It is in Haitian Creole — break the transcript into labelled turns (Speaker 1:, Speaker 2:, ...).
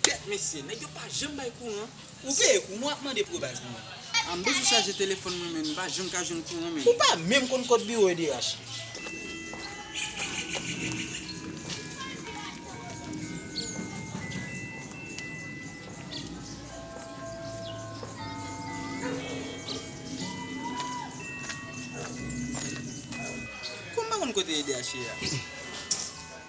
Speaker 1: Kèt mesye, nèg yo pa janm bay kouran. Ou peye kou mwen ap
Speaker 2: mande pou yo bay pou mwen. M bezwen chaje
Speaker 1: telefòn mwen men m pa janm ka jwenn kouran men. Ou pa menm konn kòd
Speaker 2: biwo edh. Kou m pa konn kote edh ye a.